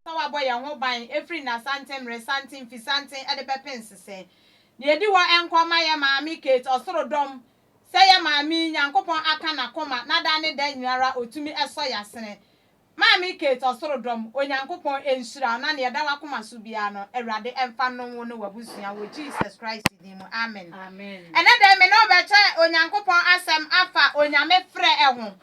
sɛ wɔabɔ yɛn ho ban firi nnasanten, mmeresanten, mfisanten de bɛpem nsesɛ. Deɛ ɛdi hɔ nkɔ mma yɛn Maame Kate, Ɔsoro dɔm, sɛ yɛn Maame yi, Nyankopɔn aka n'akoma, na da ne da nyinara Ɔtumi sɔ yɛn asene. Maame Kate, Ɔsoro dɔm, Onyankopɔn nhyira wo, na nea ɛda w'akoma so biara no, Awurade mfa nnom wo ne w'abusua, wɔ Jesus Christ din mu, amen. Ɛnɛ da yi me ne wo bɛkyɛ Onyankopɔn asɛm afa Onyame frɛ ho.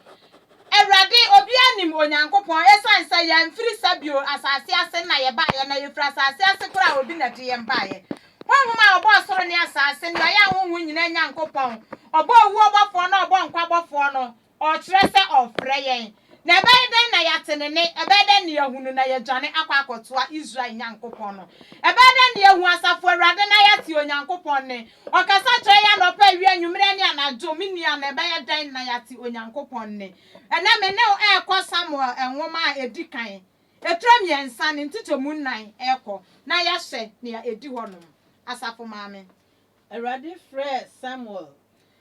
Awurade, obiara nim Onyankopɔn, esiane sɛ yɛamfiri Sabio asase ase na yɛbaeɛ, na yɛfiri asase ase koraa a obi na ɛde yɛn baeɛ. Honhom a ɔbɔɔ soro ne asase, nea ɔyɛ ahonhom nyinaa Nyankopɔn, ɔbɔɔ owuo bɔfoɔ na ɔbɔɔ nkwa bɔfoɔ no, ɔrekyerɛ sɛ ɔrefrɛ yɛn. Na ɛbɛyɛ dɛn na yɛate ne nne? Ɛbɛyɛ dɛn na yɛahu no na yɛadwane akɔ akɔtoa Israel Nyankopɔn no? Ɛbɛyɛ dɛn na yɛahu Asafo Awurade na yɛate Onyankopɔn nne? Ɔkasa kyerɛ yɛn anɔpa, awia, anwummerɛ ne anadwo. Me nua, na ɛbɛyɛ dɛn na yɛate Onyankopɔn nne? Ɛnnɛ me ne wo ɛrekɔ Samuel nwoma a ɛdi kan, etire mmiɛnsa ne nkyekyɛmu nnan ɛrekɔ na yɛahwɛ nea ɛdi hɔ nom. Asafo Maame. Awurade frɛɛ Samuel.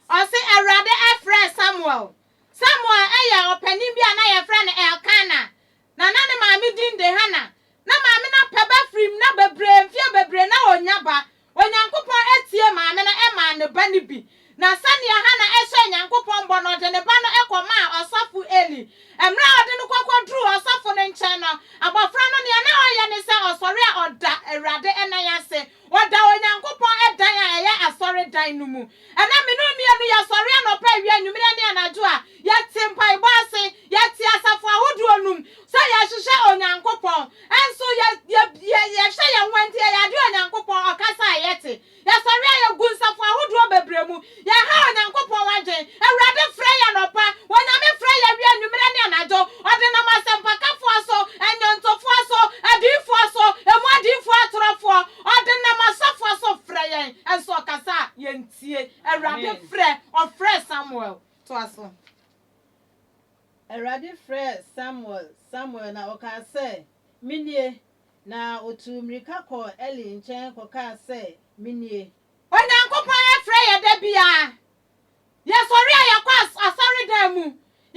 Ɔse Awurade ɛfrɛɛ Samuel. Samuel ɛyɛ ɔpanin bi a na yɛfrɛ no Elkana. Na na ne maame din de Hana. Na maame no apɛ ba firi mu, na bebree, mfeɛ bebree, na ɔnnya ba. Onyankopɔn atie maame no maa ne ba no bi. Na sɛdeɛ Hana hyɛɛ Nyankopɔn bɔ no, ɔde ne ba no kɔmaa ɔsɔfo Eli. Mmerɛ a ɔde no kɔ kɔduruu ɔsɔfo no nkyɛn no, abɔfra no deɛ na ɔyɛ ne sɛ ɔsɔre a ɔda Awurade nan ase, ɔda Onyankopɔn dan a ɛyɛ asɔredan no mu. Ɛnnɛ, me ne wo mmienu, yɛsɔre anɔpa, awia, anwummere ne anadwo a yɛte mpaebɔ ase, yɛte asafo ahodoɔ no mu sɛ yɛhwehwɛ Onyankopɔn. Nso yɛ, yɛ, yɛ, yɛhwɛ yɛn ho a, enti yɛyɛ adeɛ a Onyankopɔn ɔkasa a yɛte. Yɛsɔre a yɛgu nsafo ahodoɔ bebree mu, yɛha Onyankopɔn adwene. Awurade frɛ yɛn anɔpa, Onyame frɛ yɛn awia, anwummere ne anadwo. Ɔde nam asɛmpakafoɔ so, nnwontofoɔ so, adiyifoɔ so, emu adiyifoɔ atorɔfoɔ, Ɔde nam asɔfoɔ so frɛ yɛn, nso ɔkasa a, yɛntie. Awurade frɛ, ɔfrɛɛ Samuel. Toa so. Awurade frɛɛ Samuel, Samuel, na ɔkaa sɛ, Menie. Na ɔtuu mmirika kɔɔ Eli nkyɛn kɔkaa sɛ, Menie. Onyankopɔn frɛ yɛn da biara, Yɛsɔre a yɛkɔ asɔredan mu,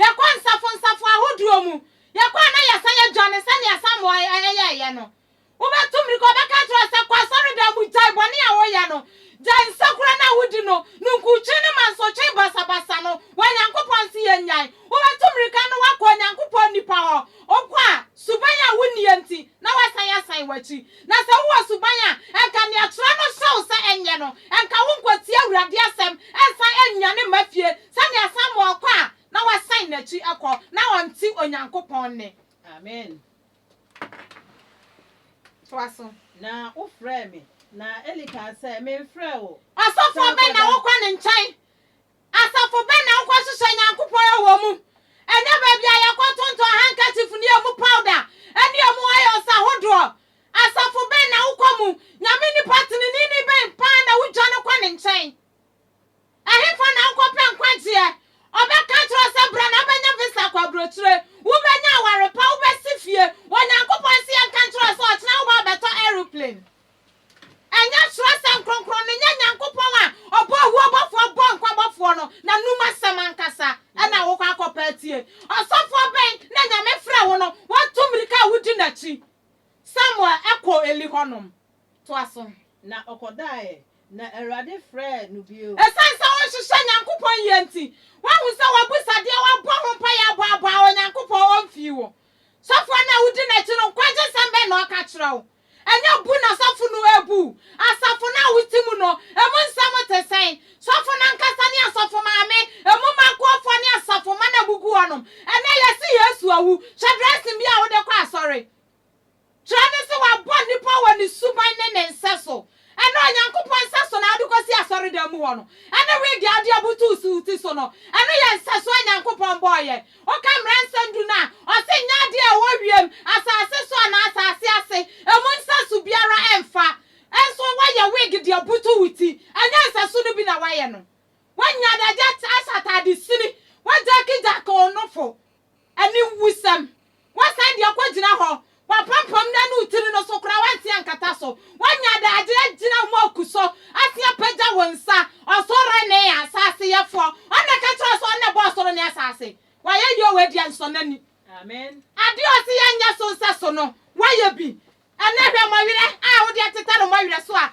yɛkɔ nsafonsafo ahodoɔ mu, yɛkɔ a na yɛsan yɛdwane sɛdeɛ asamoah yɛɛyɛ no. Wobɛtu mmirika, wɔbɛka akyerɛ wo sɛ, kɔ asɔredan mu, gyae bɔne a woyɛ no, gyae nsekura no a wodi no, ninkutwe ne mansotwe basabasa no, wɔ Nyankopɔn nse yɛ nnyae. Wobɛtu mmirika na woakɔ Onyankopɔn nnipa hɔ, wokɔ a, suban a wonniɛ nti, na woasan asan w'akyi. Na sɛ wowɔ suban a anka nea Kyerɛ no hyɛ wo sɛ ɛnyɛ no, anka wonkɔtie Awurade asɛm nsan nnwane mma fie sɛnea Samuel kɔ a na wasan n'akyi kɔ na ɔnte Onyankopɔn nne. Amen. Toa so. Na wofrɛɛ me, na Eli kaa sɛ, Memfrɛɛ wo. Ɔsɔfoɔ bɛn na wokɔ ne nkyɛn? Asafo bɛn na wokɔhwehwɛ Nyankopɔn wɔ mu? Ɛnyɛ baabi a yɛkɔtontɔn handkerchief ne emu powder ne emu oils ahodoɔ. Asafo bɛn na wokɔ mu? Nyame nipa teneneeni bɛn paa na wodwane kɔ ne nkyɛn? Ɛhefa na wokɔpɛ nkwagyeɛ? Ɔbɛka akyerɛ wo sɛ bra na wobɛnya visa akɔ aburokyire, wobɛnya aware pa, wobɛsi fie. Onyankopɔn se yɛnka nkyerɛ wo sɛ ɔkyena wobɛba abɛtɔ aeroplane. Ɛnyɛ twerɛsɛm kronkron no, nyɛ Nyankopɔn a ɔbɔ owuo bɔfoɔ bɔ nkwa bɔfoɔ no n'anom asɛm ankasa na wokɔ akɔpɛ atie. Ɔsɔfoɔ bɛn na Nyame frɛ wo no watu mmirika a wodi n'akyi? Samuel kɔɔ Eli hɔ nom. Toa so. Na ɔkɔdaeɛ, na Awurade frɛɛ no bio. Ɛsiane sɛ wonhyehyɛ Nyankopɔn yie nti, woahu sɛ w'abusadeɛ, woabɔ ho mpaeɛ, aboaboa Onyankopɔn, ɔmfii wo. Sɔfoɔ no a wodi n'akyi no, nkwagye sɛm bɛn na ɔka kyerɛ wo? Ɛnyɛ bu na sɔfo no rebu. Asafo no a wote mu no, emu nsɛm te sɛn? Sɔfo no ankasa ne asɔfo maame, emu mma kuafo ne asafo mma na egugu hɔnom. Ɛnnɛ, yɛse Yesu awu. Hyɛ dressing bi a wode kɔ asɔre. Kyerɛ no sɛ wɔabɔ nnipa wɔ ne suban ne ne nsɛso Ɛnnɛ Onyankopɔn nsa so na wode kɔsi asɔredan mu hɔ no, ɛne wig a wode abutuw so wo ti so no, ɛno yɛ nsɛso a Onyankopɔn bɔɔ yɛn. Woka Mmara Nsɛm Du no a, ɔse nyɛ ade a ɛwɔ wiem, asase so anaa asase ase, emu nsɛso biara mfa. Nso woayɛ wig de abutuw wo ti, ɛnyɛ nsɛso no bi na woayɛ no. Woanya adagya ahyɛ atade sini, woajackjack wo nofo, Ɛne wusɛm. Wɔasan de akɔgyina hɔ. Wɔapampam no anu tiri no so koraa, wɔansi ankata so. Wɔanya adagyeɛ agyina wɔn aku so ase apagya wɔn nsa. Ɔsoro ne asase Yɛfoɔ, Ɔno na ɛka kyerɛ wo sɛ Ɔno na ɛbɔɔ ɔsoro ne asase. Wayɛ yei o, ɛdi ansɔnani. Adeɛ a Ɔse yɛnyɛ so nsɛso no, Wayɛ bi. Ɛnɛ hwɛ mmɔwerɛ a wode ateta no mmɔwerɛ so a,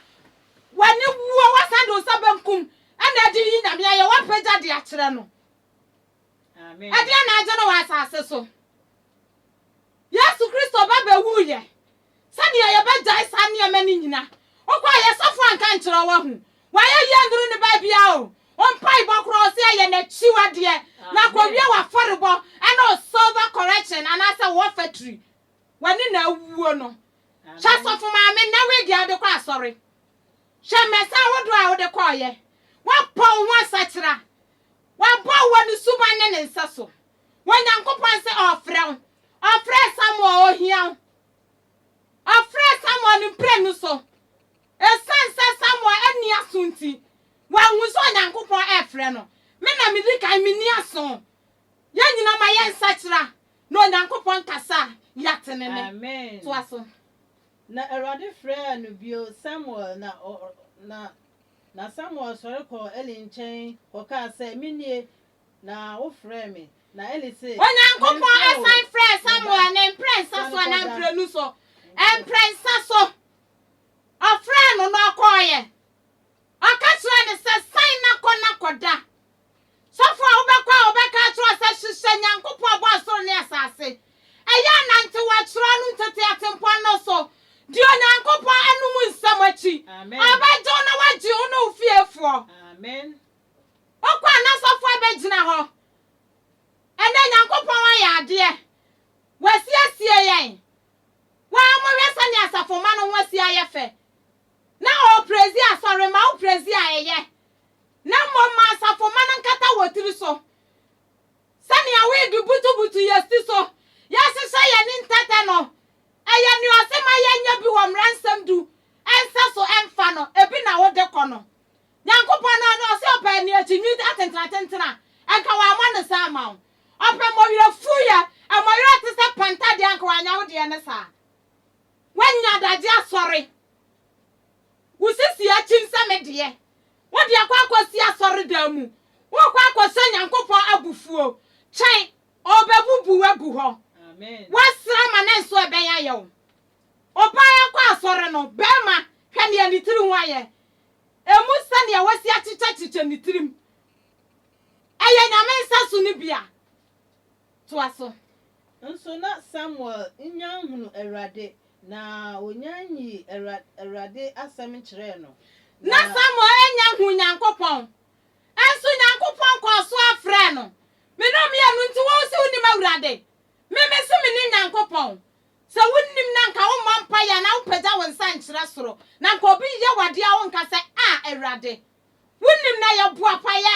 w'ani wuo, woasan de wo nsa benkum na adi yi Nyame ayɛ, woapagya de akyerɛ no. Ɛdeɛn na agye no wɔ asase so? Yesu Kristo ba bɛwuiɛ sɛdeɛ yɛbɛgyae saa nneɛma no nyina. Wokɔ a yɛ sɔfo anka nkyerɛ wo ahu wayɛ yie nduru ne baabia o, wo mpaebɔ koraa ɔse ɛyɛ nakyiwadeɛ na kɔwie wafɔrebɔ ɛne wo silver correction anaasɛ wo ɔfatri wani na awuo no. Hwɛ sɔfo maame nnɛ wig a wode kɔ asɔre, hwɛ mmɛsa ahodoɔ a wode kɔɔyɛ, wabɔ wo ho asakyera Wɔbɔ wo wɔ ne suban ne ne nsa so. Onyankopɔn se ɔrefrɛ wo. Ɔfrɛɛ Samuel, ohia wo. Ɔfrɛɛ Samuel ne mprenu so. Esiane sɛ Samuel anni aso nti, wanhu sɛ Onyankopɔn refrɛ no. Me na midi kan, menni aso. Yɛn nyinaa ma yɛnsakyera na Onyankopɔn kasa a yɛatene ne. Amen. Toa so. Na Awurade frɛɛ no bio, Samuel! Na ɔ, na, na Samuel sɔre kɔɔ Eli nkyɛn kɔkaa sɛ, Me nie, na wofrɛɛ me. Na Eli se, Onyankopɔn Mamfrɛ wo, san frɛɛ me ba, Samuel ne mprɛnsa sane so anaa kɔda. mprenu so? Mprɛnsa so. Ɔfrɛɛ no na ɔkɔeɛ. Ɔka kyerɛɛ no sɛ, San na kɔ na kɔda. Sɔfo a wobɛkɔ a ɔbɛka akyerɛ wo sɛ, 'Hwehwɛ Nyankopɔn a ɔbɔɔ soro ne asase. Ɛyɛ a nantew Wɔakyerɛw no ntetee atempɔn no so. Di Onyankopɔn anom nsɛm akyi. Ɔbɛgye wo na wagye wo ne wo fiefoɔ. Wokɔ a na sɔfo abɛgyina hɔ. Ɛnnɛ Nyankopɔn ayɛ adeɛ. Wasiesie yɛn. Wo ara mohwɛ sɛnea asafomma no ho asi ayɛ fɛ. na ɔreprezi asɔre ma wo prezi a ɛyɛ, na mmom ma asafomma no nkata wɔ tiri so, sɛnea wode butubutu yɛn ti so, yɛahyehyɛ yɛn ani ntɛtɛ no, ɛyɛ nea ɔse ma yɛnyɛ bi wɔ mmara nsɛm du ɛnsɛ so ɛmfa no, ebi na wode kɔ no. Nyankopɔn no ɔno ɔse ɔpɛ nea akyinye atentenatentena, ɛnka wamma no saa amma wo. Ɔpɛ mmɔwerɛfuuyɛ, mmɔwerɛ a ɛte sɛ panta deɛ anka wannya wo deɛ no saa. Woanya adagye asɔre. Wo sisi akyim sɛ me deɛ. Wode akɔ akɔsi asɔredan mu. Worekɔ akɔhyɛ Nyankopɔn abufuo. Twɛn, Ɔrebɛbubu wo agu hɔ. Woasrɛ ama ne nso ɛbɛn ayɛ wo. Ɔbaa akɔ asɔre no, barima, hwɛ nea ne tiri ho ayɛ. Ɛmu sɛnea wasi akyekyɛkyekyɛ ne tirim. Ɛyɛ Nyame nsaso no bi a, Toa so. Nso na Samuel nnya nhunuu Awurade, na onnya nyii Awurade asɛm nkyerɛɛ no, na. Na Samuel annya nhuu Nyankopɔn, nso Nyankopɔn kɔɔ so ara frɛɛ no, Me ne wo meyɛ no, nti wo nso wonim Awurade? Me me nso menim Nyankopɔn. Sɛ wonnim no a anka wommɔ mpaeɛ anaa wompagya wo nsa nkyerɛ soro, na anka obi reyɛ wo adeɛ a wonka sɛ, Ah, Awurade! Wonim na yɛ boapa yɛ.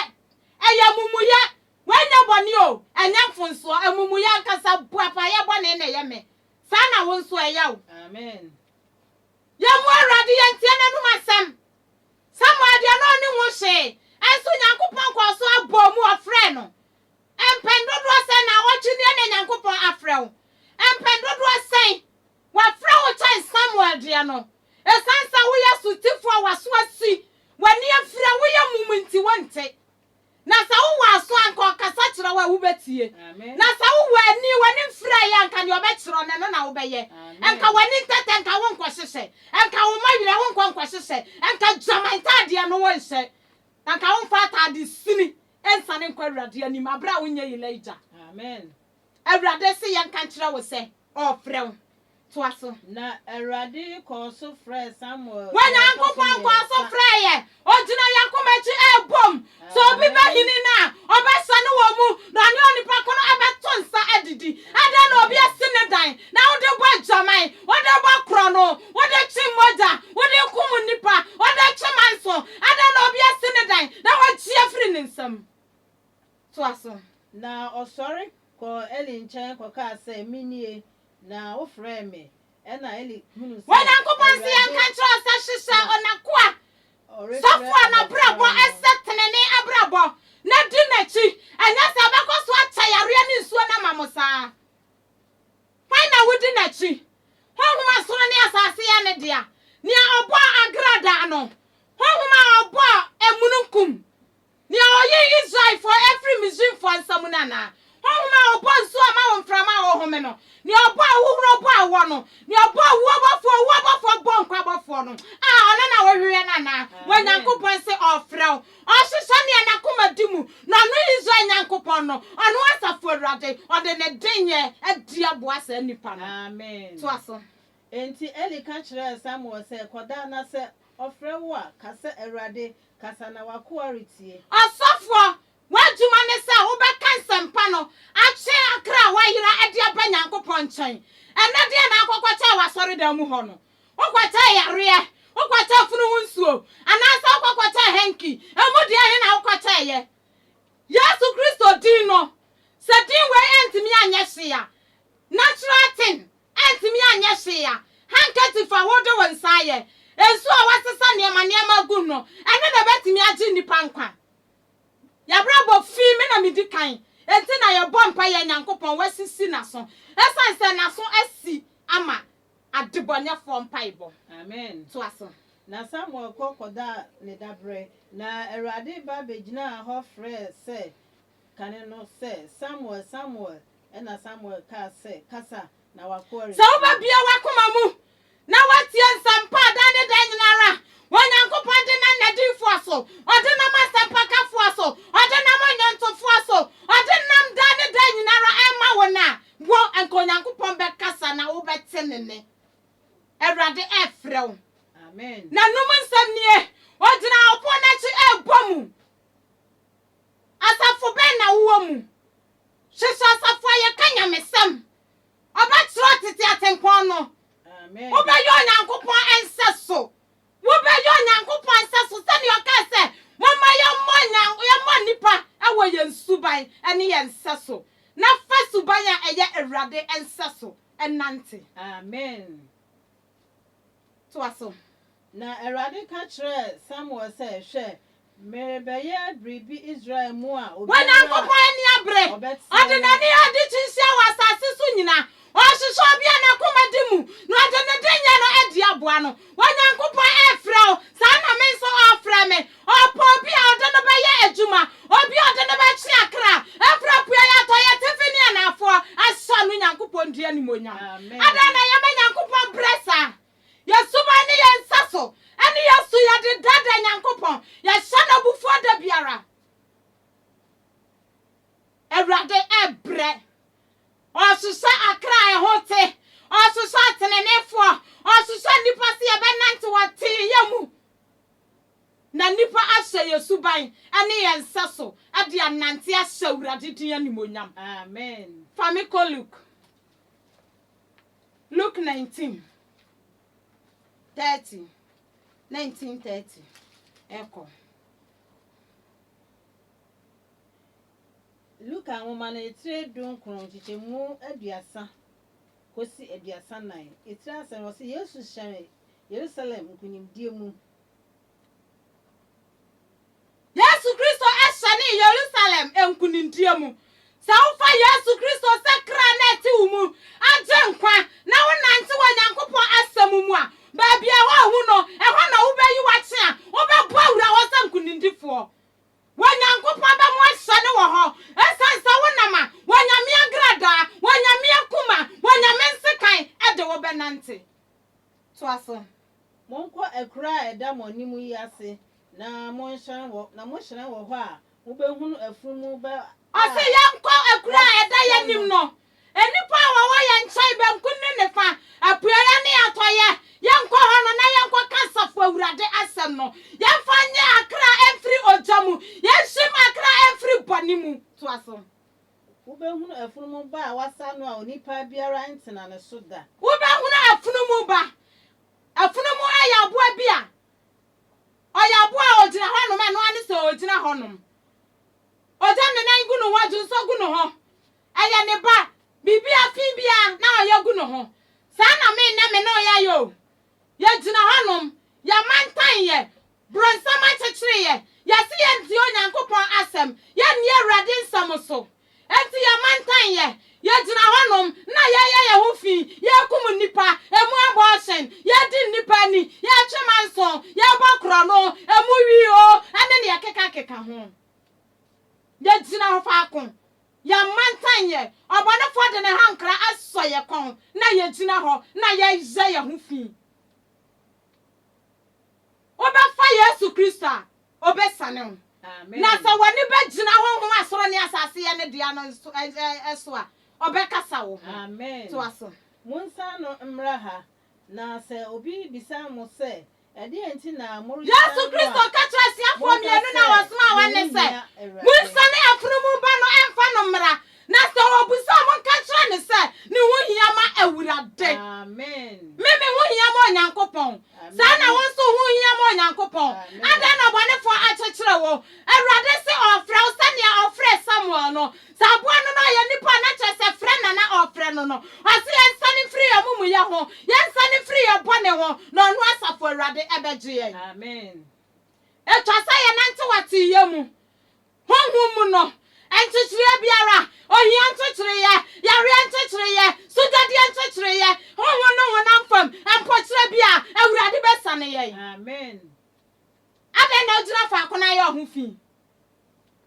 Ɛyɛ amumuyɛ. W'anya bɔne o, ɛnyɛ mfonsoɔ, amumuyɛ ankasa, boapa yɛ bɔne na ɛyɛ me. Saa na wo nso ɛyɛ wo. Yɛn mmoa Awurade, yɛn ntie n'anum asɛm. Samuel deɛ na ɔnim ho hwee, ɛnso Nyankopɔn kɔɔ so abɔɔ mu, ɔfrɛɛ no. Mpɛn dodoɔ sɛn na awɔtwe nie na Nyankopɔn afrɛ wo? Mpɛn dodoɔ sɛn? Wafrɛ wo kyɛn Samuel deɛ no. Esiane sɛ woyɛ sotifo a w'aso asi, w'ani afiri a woyɛ mum nti wonte. Na sɛ wowɔ aso a anka ɔkasa kyerɛ wo a wubetie. Na sɛ wowɔ ani, w'ani mfiri a ɛyɛ a anka nea ɔbɛkyerɛ no, ɛno na wobɛyɛ. Anka w'ani ntɛtɛ, anka wonkɔhyehyɛ. Anka womma werɛ, wonkɔ nkɔhyehyɛ. Anka gyama ntaadeɛ no wonhyɛ. Anka womfa ataade sini nsiane nkɔ Awurade anim bere a wonyɛ Elijah. Awurade se yɛnka nkyerɛ wo sɛ ɔrefrɛ wo. Toa so. Na Awurade kɔɔ so frɛɛ Samuel Wɔn da a ɛtɔ so Nyankopɔn kɔɔ so mmiɛnsa. frɛɛ yɛn. Ogyina yɛn koma akyi rebɔ mu. Sɛ obi Amen. bɛhini no a, ɔbɛsɔ no wɔ mu, na ɔne onipa ko no bɛto nsa adidi. Adɛn na obi Amen. asi ne dan, na wode bɔ adwaman, wode bɔ korɔno, wode kye mogya, wode kum nnipa, wode kye manso? Adɛn na obi asi ne dan, na wagye afiri ne nsam? Toa so. Na ɔsɔre kɔɔ Eli nkyɛn kɔkaa sɛ, Menie, na wofrɛɛ me. Ɛnna Eli hunuu sɛ Awurade rebɛfrɛ no. Onyankopɔn se yɛnka nkyerɛ wo sɛ, Hyehyɛ ɔnakoa, sɔfo a n'abrabɔ sɛ tenenee abrabɔ, na di n'akyi, anyɛ saa a ɔbɛkɔ so akyɛ yareɛ ne nsuo no ama mo saa. Hwan na wodi n'akyi? Honhom a soro ne asase yɛ ne dea, nea ɔbɔɔ agradaa no, honhom a ɔbɔɔ amununkum Nea ɔyee Israelfo firi Misraimfo nsa mu no anaa? Honhom a ɔbɔɔ nsuo a ama wɔn mframa a wɔhome no? Nea ɔbɔɔ ahuhuro bɔɔ awɔ no? Nea ɔbɔɔ owuo abɔfoɔ a owuo abɔfoɔ bɔɔ nkwa abɔfoɔ no? A ɔno na wohwehwɛ no anaa? Wɔ Nyankopɔn se ɔrefrɛ wo. Ɔhwehwɛ nea n'akoma di mu, na ɔno ne Israel Nyankopɔn no, ɔno Asafo Awurade, ɔde ne denyɛ adi aboa saa nnipa no. Toa so. Enti Eli ka kyerɛɛ Samuel sɛ, Kɔda, na sɛ ɔfrɛ wo a, ka sɛ, 'Awurade, kasa na w'akoa retie. Ɔsɔfoɔ, w'adwuma ne sɛ wobɛka nsɛmpa no akyerɛ akra a wɔayera de aba Nyankopɔn nkyɛn. Ɛnnɛ deɛn na wokɔkɔkyɛɛ wɔ asɔredan mu hɔ no? Wokɔkyɛɛ yareɛ? Wokɔkyɛɛ funu ho nsuo? Anaasɛ wokɔkɔkyɛɛ hanky? Ɛmu deɛn he na wokɔkyɛeɛ? Yesu Kristo din no, sɛ din wei antumi anyɛ hwee a, natural thing, Antumi anyɛ hwee a handkerchief a wode wo nsa ayɛ, nsu a wɔasesa nneɛma nneɛma agu no, ɛno na ɛbɛtumi agye nnipa nkwa. Y'abrabɔ fi me na medi kan, enti na yɛbɔ mpaeɛ Nyankopɔn wasisi n'aso, ɛsiane sɛ n'aso asi ama adebɔnɛfoɔ mpaebɔ. Amen. Toa so. Na Samuel kɔ kɔdaa ne daberɛ, na Awurade ba bɛgyinaa hɔ frɛɛ sɛ, kane no sɛ, Samuel! Samuel! Ɛnna Samuel kaa sɛ, Kasa, na w'akoa retie. Sɛ wobɛbue w'akoma mu na woatie nsɛmpa a daa ne daa nyina ara Onyankopɔn de nam n'adiyifoɔ so, ɔde nam asɛmpakafoɔ so, ɔde nam ɔnwontofoɔ so, ɔde nam daa ne daa nyina ara rema wo no a, wo, anka Onyankopɔn bɛkasa na wobɛte ne nne. Awurade refrɛ wo. Amen. N'anom nsɛm nie, Ɔgyina ɔpono no akyi rebɔ mu. Asafo bɛn na wowɔ mu? Hwɛ sɛ asafo a yɛka nyamesɛm ɔbɛtrɛw tete atempɔn no. Wobɛyɛ Onyankopɔn nsɛso. Wobɛyɛ Onyankopɔn nsɛso sɛnea ɔkae sɛ, Momma yɛmmɔ yɛmmɔ nnipa wɔ yɛn suban ne yɛn nsɛso, na fa suban a ɛyɛ Awurade nsɛso nnante. Amen. Toa so. Na Awurade ka kyerɛɛ Samuel sɛ, Hwɛ, merebɛyɛ biribi Israel mu a obiara. Onyankopɔn ani abere. Ɔde n'ani yɛ ade tiatia wɔ asase so nyinaa. Ɔrehwehwɛ obi a n'akoma di mu, na ɔde ne dennye no adi aboa no. Onyankopɔn refrɛ wo, saa na me nso ɔrefrɛ me. Ɔpɛ obi a ɔde no bɛyɛ adwuma, obi a ɔde no bɛtwe akra afiri apueɛ, atɔeɛ, atifi ne anaafoɔ, asɔ ano Nyankopɔn din animuonyam. Adɛn na yɛma Nyankopɔn brɛ saa? Yɛn suban ne yɛn nsa so, ɛne yɛn su, yɛde daadaa Nyankopɔn, yɛhyɛ no abufuo da biara. Awurade ɛbrɛ, ɔhwehwɛ akra a ɛho te, ɔhwehwɛ ateneneefoɔ, ɔhwehwɛ nnipa sɛ yɛbɛnante wɔ teeyɛ mu. Na nnipa ahyɛ yɛn suban ne yɛn nsa so de anante ahyɛ Awurade din animuonyam. Amen. Fa me kɔ Luke. Luke 19, 30. 19, 30. Ɛkɔ. Luka nwoma no etire dunkron nkyekyɛmu aduasa kosi aduasa nnan. Etiri asɛm no, ɔse Yesu hyɛne Yerusalem nkunimdie mu. Yesu Kristo hyɛne Yerusalem nkunimdie mu. Sɛ wofa Yesu Kristo sɛ kra na ɛte wo mu agye nkwa na wo nante wɔ Nyankopɔn asɛm mu a, baabi a woahu no, ɛhɔ na wobɛyi wakye a wobɛbɔ awura hɔ sɛ nkunimdifoɔ. Wɔ Nyankopɔn ba mu ahyɛ no wɔ hɔ, ɛsiane sɛ wo nam a, wɔ Nyame agradaa, wɔ Nyame akuma, wɔ Nyame nsekan ɛde wo bɛnante. Toa so. Monkɔ akuro a ɛda mo anim yi ase na monhyerɛn wɔ, na mohyerɛn wɔ hɔ a, mobɛhunu afunumu ba a. Ɔse yɛnkɔ akuro a ɛda yɛn anim no, Nnipa a wɔwɔ yɛn nkyɛn benkum ne nifa, apueeɛ ne atɔeɛ, yɛnkɔ hɔ no na yɛnkɔka Asafo Awurade asɛm no. Yɛmfa nnye akra mfiri ogya mu, yɛnhim akra mfiri bɔne mu. Toa so. Wobɛhunu afunumu ba a wɔasa no a onipa biara ntena ne so da. Wobɛhunu afunumu ba. Afunumu yɛ aboa bi a ɔyɛ aboa a ɔgyina hɔnom, ɛno ara ne sɛ ɔgyina hɔnom. Ɔgya nnenan gu ne ho, adwonsɔ gu ne ho, Ɛyɛ ne ba. Biribiara, fi biara, na ɔyɛ gu no ho. Saa na me nnɛ me ne wo yɛayɛ o. Yɛgyina hɔnom. Yɛmantan yɛ. Borɔnsam akyekyere yɛ. Yɛse yɛntie Onyankopɔn Asɛm. Yɛnni Awurade nsɛm so. Enti yɛmantan yɛ. Yɛgyina hɔnom, na yɛyɛ yɛn ho fi. Yɛrekum nnipa. Ɛmu abortion. Yɛredi nnipa ani. Yɛretwe manso. Yɛrebɔ korɔno. Ɛmu wii o, ɛne nea ɛkekakeka ho. Yɛgyina faako. Yɛn mantan yɛ, ɔbɔnefoɔ de ne hankra asɔ yɛn kɔn na yɛgyina hɔ na yɛyɛ yɛn ho fi. Wobɛfa Yesu Kristo a, ɔbɛsiane wo. Na sɛ w'ani bɛgyina honhom a soro ne asase yɛ ne dea no so a, ɔbɛkasa wo ho. Toa so. Monsan no mmra ha, Na sɛ obi bisa mo sɛ, 'Ɛdeɛn nti na moresan no a, Yesu Kristo ka kyerɛɛ asuafoɔ mmienu no a wɔsomaa wɔn no sɛ, Monsane afunumu ba no mfa no mmra, na sɛ ɔbisa a, monka nkyerɛ no sɛ, 'Ne ho hia ma Awurade. Me, me ho hia ma Onyankopɔn. Saa ara na wo nso wo ho hia ma Onyankopɔn. Adɛn na ɔbɔnefoɔ akyekyere wo? Awurade se ɔrefrɛ wo sɛdeɛ ɔfrɛɛ Samuel no. Sɛ aboa no na ɔyɛ nipa a, na kyerɛ sɛ frɛ na na ɔrefrɛ no no. Ɔse yɛnsane mfiri yɛn amumuyɛ ho, yɛnsane mfiri yɛn bɔne ho, na ɔno Asafo Awurade bɛgye yɛn. Amen. Etwa sɛ yɛnantew ateeyɛ mu, honhom mu no, nkyekyereɛ biara, ohia nkyekyereeɛ, yareɛ nkyekyereeɛ, sugyadeɛ nkyekyereeɛ, honhom ne honam fam mpokyerɛ bi a, Awurade bɛsane yɛn. Amen. Adɛn na ogyina faako na ayɛ ɔho fi?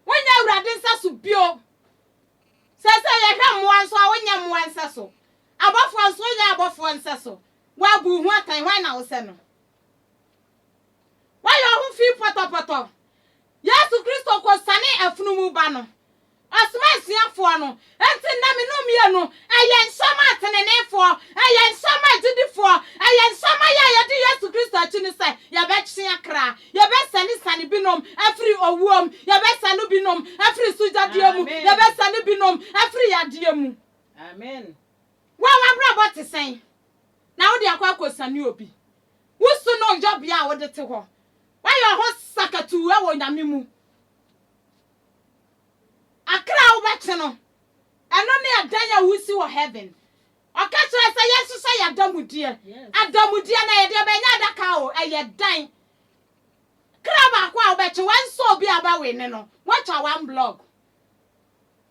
Wonyɛ Awurade nsa so bio. Seesei yɛhwɛ mmoa nso a, wonyɛ mmoa nsa so. Abɔfoɔ nso, wonyɛ abɔfoɔ nsa so. Woabu wo ho atɛn, hwan na wosɛ no? Woayɛ wo ho fi pɔtɔpɔtɔ. Yesu Kristo kɔsianee afunumu ba no, Ɔsomaa asuafoɔ no, enti nna me no mmienu, ɛyɛ nhyɛ maa teneneefoɔ, ɛyɛ nhyɛ maa agyidifoɔ, ɛyɛ nhyɛ ma yɛ a yɛdi Yesu Kristo akyi no sɛ, yɛbɛtwe akra, yɛbɛsane-sane binom afiri owuo mu, yɛbɛsane binom afiri sugyadeɛ mu, yɛbɛsane binom afiri yadeɛ mu. Amen. Wo a w'abrabɔ te sɛn na wode akɔ akɔsane obi? Wo su ne wo yɔbea a wode te hɔ, woayɛ wo ho sakatuu wɔ Nyame mu. Akra a wobɛte no, ɛno ne adan a wosi wɔ heaven. Ɔka kyerɛ sɛ yɛn nso sɛ yɛ adamudeɛ. Adamudeɛ no ɛyɛ deɛ bɛn? Ɛnyɛ adaka o, ɛyɛ dan. Kra baako a wobɛkye, wɛnsɛ obi a ɔbɛwe ne no, woatwa one block.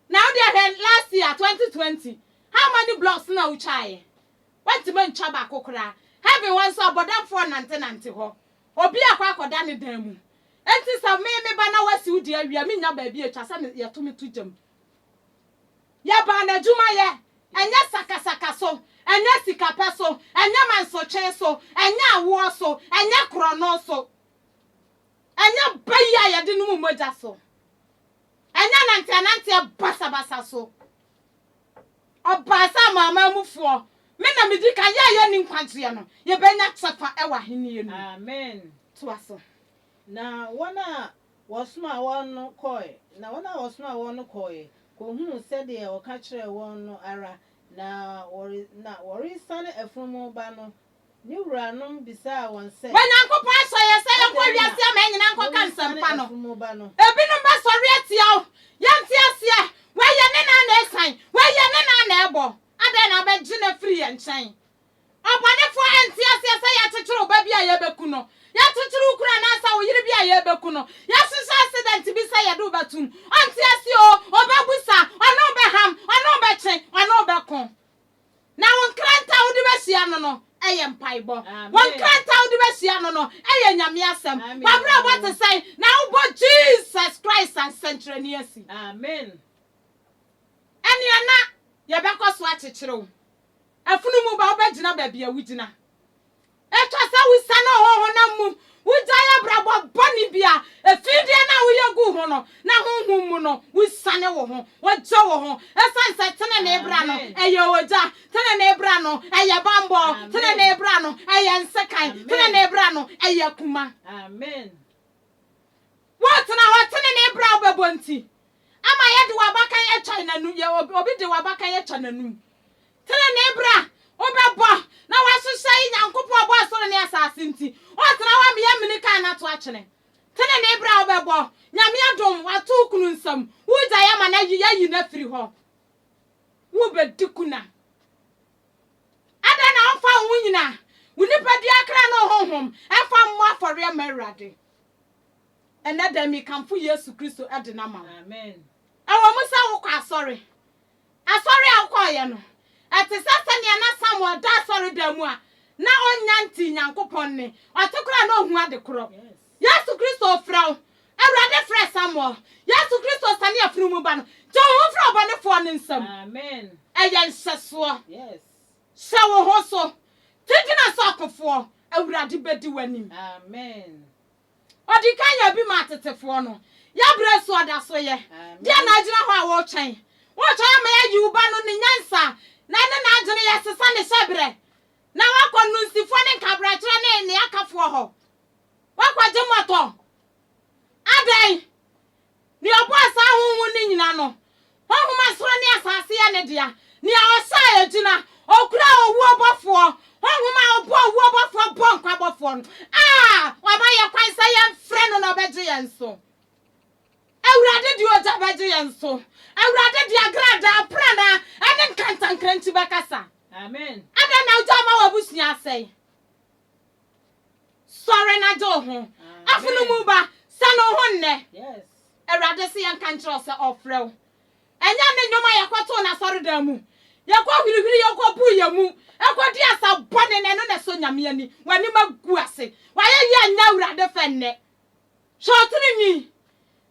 Na wo deɛ hwɛ last year, 2020, how many blocks na wotwaeɛ? Woantumi antwa baako koraa. Heaven hɔ nso, abɔdamfoɔ nante nante hɔ. Obi akɔ akɔda ne dan mu. Enti sɛ me me ba na wasiw de awi a, minnya baabi a etwa sɛ me yɛto me to gya mu. Yɛbaa no adwumayɛ, ɛnyɛ sakasaka so, ɛnyɛ sikapɛ so, ɛnyɛ mansotwee so, ɛnyɛ awoɔ so, ɛnyɛ korɔno so, ɛnyɛ bayi a yɛde nom mogya so, ɛnyɛ nanteɛnanteɛ basabasa so. Ɔbaa sɛ Amanaman mufoɔ, me na medi kan, yɛn a yɛnni nkwagyeɛ no, yɛbɛnya kyɛfa wɔ Ahennie no mu. Amen. Toa so. Na wɔn a wɔsomaa wɔn no kɔɔe, na wɔn a wɔsomaa wɔn no kɔɔeɛ kɔhunuu sɛdeɛ wɔka kyerɛɛ wɔn no ara, na wɔre, na wɔresiane afunumu ba no Ne wuranom bisaa wɔn sɛ. Bɛ Nyankopɔn asɔ yɛ sɛ yɛnkɔ Adɛn na wiase aman nyinaa nkɔka moresiane nsɛmpa no? afunumu ba no? Ebinom bɛsɔre atia wo. Yɛnte aseɛ! Wei yɛ ne nan na ɛresian. Wei yɛ ne nan na ɛrebɔ. Adɛn na wobɛgye no afiri yɛn nkyɛn? Ɔbɔnefoɔ ɛnte aseɛ sɛ yɛakyekyere wo ba bi a yɛrebɛku no. Yɛakyekyere wo kunu anaasɛ wo yere bi a yɛrebɛku no. Yɛahyehyɛ accident bi sɛ yɛde wo bɛto mu. Ɔnte aseɛ oo! Ɔbɛbu sa. Ɔne wo bɛham. Ɔne wo bɛtwe. Ɔne wo bɛko. Na wo nkrantɛ a wode bɛhyia no no yɛ mpaebɔ. Wo nkrantɛ a wode bɛhyia no no yɛ Nyame asɛm. W'abrabɔ te sɛn na wobɔ Jesus Christ ansɛnkyerɛnne asi? Ɛnea na yɛbɛkɔ so akyekyere wo. Afunumu ba, wobɛgyina baabi a wugyina. Ɛtɔ sɛ wosiane ho honam mu, wugyae abrabɔ bɔne bi a efi deɛ na woyɛ gu ho no, na honhom mu no, wosiane wo ho, wogye wo ho, esiane sɛ tenenee bra no yɛ ogya, tenenee bra no yɛ bammɔ, tenenee bra no yɛ nsekan, tenenee bra no yɛ akuma. Wotena hɔ tenenee bra a wobɛbɔ nti, ama yɛde w'abakan atwa n'anum, obi de w'abakan atwa n'anum. Trenee bra wobɛbɔ na woahyehyɛ yi Nyankopɔn ɔbɔɔ soro ne asase nti ɔɔtena hɔ ama yɛamini kan na ato atwene Trenee bra wobɛbɔ Nyame adom wato wo kunu nsam woregyae ama no ayi yɛayi no afiri hɔ Wobɛdi kuna Adɛn na womfa wo ho nyina wo nipadua akra ne wo honhom mfa mmɔ afɔreɛ mma Awurade Ɛnnɛ da yi mekamfo Yesu Kristo de no ama wo Ɛwɔ mu sɛ wokɔ asɔre Asɔre a wokɔeɛ no, ɛte sɛ sɛdeɛ na Samuel da asɔredan mu a na ɔnnya nte Nyankopɔn nne. Ɔte koraa a na ɔhu ade korɔ. Yesu Kristo refrɛ wo. Awurade frɛɛ Samuel. Yesu Kristo siane afunumu ba no. Gye wo ho firi ɔbɔnefoɔ no nsam. Ɛyɛ nhyɛsoɔ. Hyɛ wo ho so. Ti gyina so akofoɔ. Awurade bɛdi w'anim. Ɔde kan yɛ bi maa tetefoɔ no. Yɛn berɛ so ɔda so yɛ. Deɛn na agyina hɔ a woretwɛn? Woretwɛn ama yɛayi wo ba no ne nyansa na ɛne n'adwene yɛsesa ne hyɛberɛ na woakɔ nnunsifoɔ ne nkabrakyerɛ ne nneɛkafoɔ hɔ? Woakɔgye mmɔtɔ? Adɛn? Nea ɔbɔɔ saa ahonhom no nyina no, honhom a soro ne asase yɛ ne dea, nea ɔhyɛ a egyina, okura owuo bɔfoɔ, honhom a ɔbɔ owuo bɔfoɔ bɔ nkwa bɔfoɔ no, a wama yɛn kwan sɛ yɛmfrɛ no na ɔbɛgye yɛn so. Awurade de ogya bɛgye yɛn so. Awurade de agradaa, aprannaa, ɛne nkantankrankyi bɛkasa. Amen. Adɛn na ogya ama w'abusua asɛe? Sɔre na gye wo ho. Afono mu ba, sane wo ho nnɛ. Awurade se yɛnka nkyerɛ wo sɛ ɔfrɛ wo. Ɛnyɛ ne nnwom a yɛkɔtoo no asɔredan mu, yɛkɔhwirihwiri yɛkɔbuu yɛn mu, kɔdii asa bɔne no, ɛno na ɛsɔ Nyame ani. W'anim agu ase. W'ayɛyie anyɛ Awurade fɛ nnɛ. Hyɛ wo tiri nwi,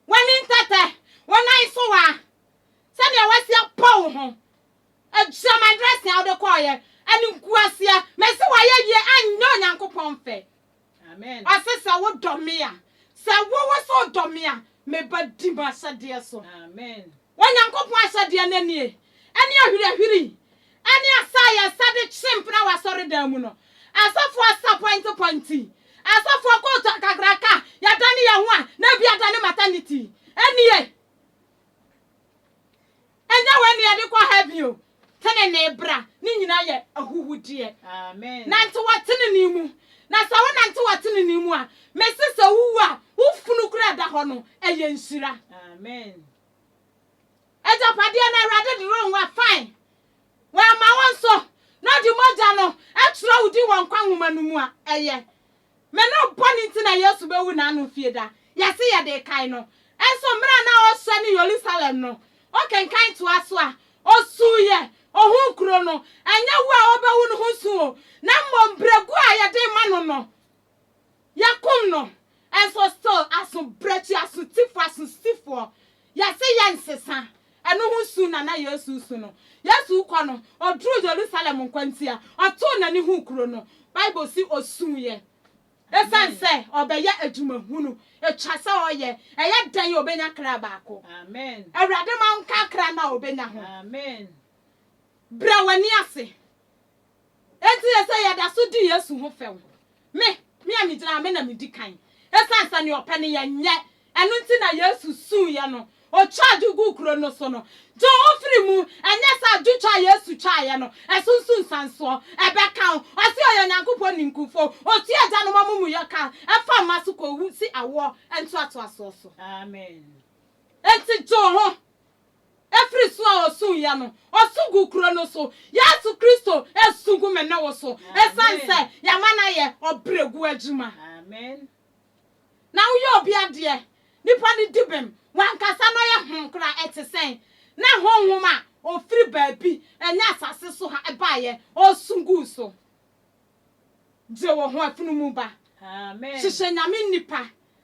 w'ani ntɛtɛ, wo nan so waa, sɛdeɛ woasi apɔ wo ho. Gyina my dressing a wode kɔɔeɛ animguaseɛ mese wayɛ yie anyɛ Onyankopɔn fɛ Amen ɔse sɛ wodɔ me a sɛ wowo sɛ wodɔ me a meba di m'ahyɛdeɛ so Amen Onyankopɔn ahyɛdeɛ no nie ɛne ahwirahwiri ɛne asa a yɛsa de kye mpena wɔ asɔredan mu no asɔfoɔ asa pɔinte pɔinte asɔfoɔ kootu akakraka yɛadane yɛn ho a na bi adane maternity ɛnie Ɛnyɛ wei na yɛde kɔ heaven o. Tenenee bra, ne nyinaa yɛ ahuhudeɛ. Nante wɔ tenenee mu. Na sɛ wonante wɔ tenenee mu a, mese sɛ wowu a, wo funu koraa a ɛda hɔ no, ɛyɛ nhyira. Agyapadeɛ no Awurade de rema wo a, fine. Wamma wo nso, na ɔde mogya no atwerɛ wo din wɔ nkwa nwoma no mu a, ɛyɛ. Me no bɔne nti na Yesu bɛwu na ano fie da. Yɛse yɛde kae no. Nso mmerɛ a na ɔrehyɛ ne Yerusalem no, ɔkenkan toa so a, ɔsuiɛ. Ɔhuu kuro no. Ɛnyɛ wu a ɔbɛwu no ho su o, na mmom berɛguo a yɛde rema no no, yɛakum no. Nso still aso berɛkyi, aso tifoɔ, aso sifoɔ Yɛse yɛnsesa ɛno ho su na na Yesu su no. Yesu rekɔ no, ɔduruu Yerusalem nkwantia. Ɔtoo n'ani huu kuro no. Bible se ɔsuuiɛ ɛsiane sɛ ɔbɛyɛ adwuma hunu. Ɛtwa sɛ ɔyɛ. Ɛyɛ dɛn a ɔbɛnya kra baako? Awurade ma wo nka kra no a ɔbɛnya ho. Brɛ w'ani ase Enti yɛ sɛ yɛda so di Yesu ho fɛw. Me, me a migyina ha, me na midi kan. Esiane sɛ nea ɔpɛ no yɛnyɛ, ɛno nti na Yesu suiɛ no, ɔtwaa adwo guu kuro no so no. Gye wo ho firi mu, ɛnyɛ sɛ adwotwa a Yesu twaeɛ no, ɛso nso nsansoɔ. Ɛbɛka wo. Ɔse ɔyɛ Onyankopɔn ninkunfo. Ɔtua agyanom amumuyɔ ka ɛfa mma so kɔsi awoɔ ntoatoasoɔ so. Amen. Enti gye wo ho, Ɛfiri so a ɔsuiɛ no, ɔsu guu kuro no so. Yesu Kristo resu gu me ne wo so ɛsiane sɛ yɛama no ayɛ ɔbrɛguo adwuma. Na woyɛ obi adeɛ, nipa no di bem, wankasa no yɛ hom koraa, ɛte sɛn? Na honhom a ɔfiri baabi, ɛnyɛ asase so ha, baeɛ, ɔresu guu so. Gye wo ho, afunumu ba, hyehyɛ Nyame nnipa.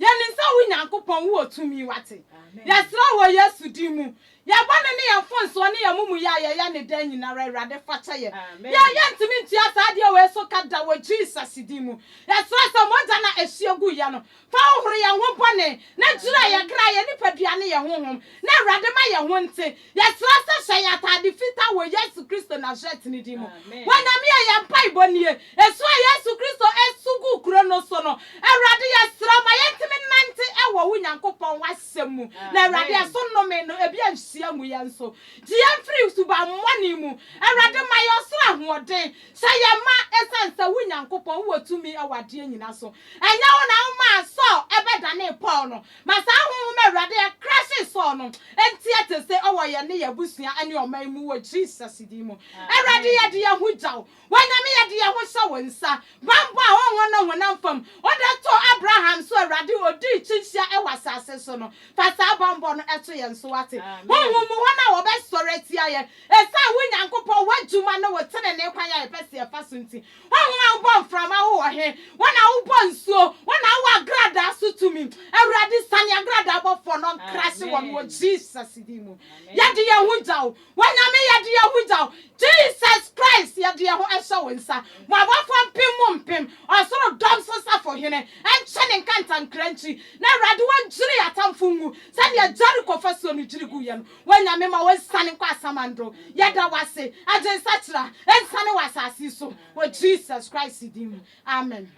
Yɛ ne nsa wo Nyankopɔn wowɔ tumi wate Yɛsrɛ wo wɔ Yesu din mu Yɛ bɔne ne yɛ mfonsoɔ ne yɛ mumuyɛ a yɛyɛ ne daa nyinara Awurade fakyɛ yɛ Yɛ yɛ ntumi ntua saa adeɛ wei so ka da wɔ Jesus din mu Yɛsrɛ sɛ mogya na ɛhyeɛ gu yɛ no fa hohoro yɛ ho bɔne na gyira yɛ kra yɛ nipadua ne yɛ honhom na Awurade ma yɛ ho nte Yɛsrɛ sɛ hyɛ yɛn atade fitaa wɔ Yesu Kristo Nasaretni din mu. Wɔ Nyame a yɛn mpaebɔ nie. Esu a Yesu Kristo su guu kuro no so no, Awurade yɛsrɛ wo ma yɛntumi nnante wɔ wo Nyankopɔn w'asɛm mu, na Awurade ɛso nnome no ebi anhyia ngu yɛn so. Gye yɛn firi subammɔne mu. Awurade ma yɛn ɔsoro ahoɔden. Hyɛ yɛn ma ɛsiane sɛ wo Nyankopɔn wowɔ tumi wɔ adeɛ nyina so. Ɛnyɛ wo na womaa Saul bɛdanee Paul no, Ma saa honhom a Awurade ɛkrasee Saul no nteɛ te se wɔ yɛn ne yɛn abusua ne ɔman mu wɔ Jesus din mu. Awurade yɛde yɛn ho gya wo. Onyame yɛde yɛn ho hyɛ wo nsa. Banbɔ a honhom ne honam fam wode too Abraham so Awurade odii kyinhyia wɔ asase so no fa saa banbɔ no to yɛn so wate. Honhom mu wɔn a wɔbɛsɔre atia yɛn esiane wo Nyankopɔn w'adwuma ne wo tenenee kwan a yɛpɛ se yɛfa so nti Hwan ho na wobɔ mframa wo wɔ he? Hwan na wobɔ nsuo? Hwan na wowɔ agradaa so tumi? Awurade sane agradaa bɔfoɔ no nkrase wɔn wɔ Jesus din mu. Yɛde yɛn ho gya wo. Onyame yɛde yɛn ho gya wo. Jesus Christ yɛde yɛn ho hyɛ wo nsa. Mo abɔfoɔ mpem mu mpem, ɔsoro dɔm so safohene nkyɛ ne nkantankra nkyi. Na Awurade wɔnkyiri yɛn atamfo ngu sɛdeɛ Jericho fasuo no kyiri guiɛ no. W'Anyame ma w'ensiane nkɔ asamando, yɛda w'ase, agye nsakyera ensiane wɔ asaase yi so, wɔ Jesus Christ din mu, amen.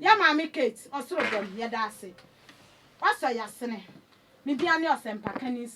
Yɛ Maame Kate, Ɔsoro Dɔm, yɛda ase. W'asɔ yasene. Me din ane Ɔsɛmpakani.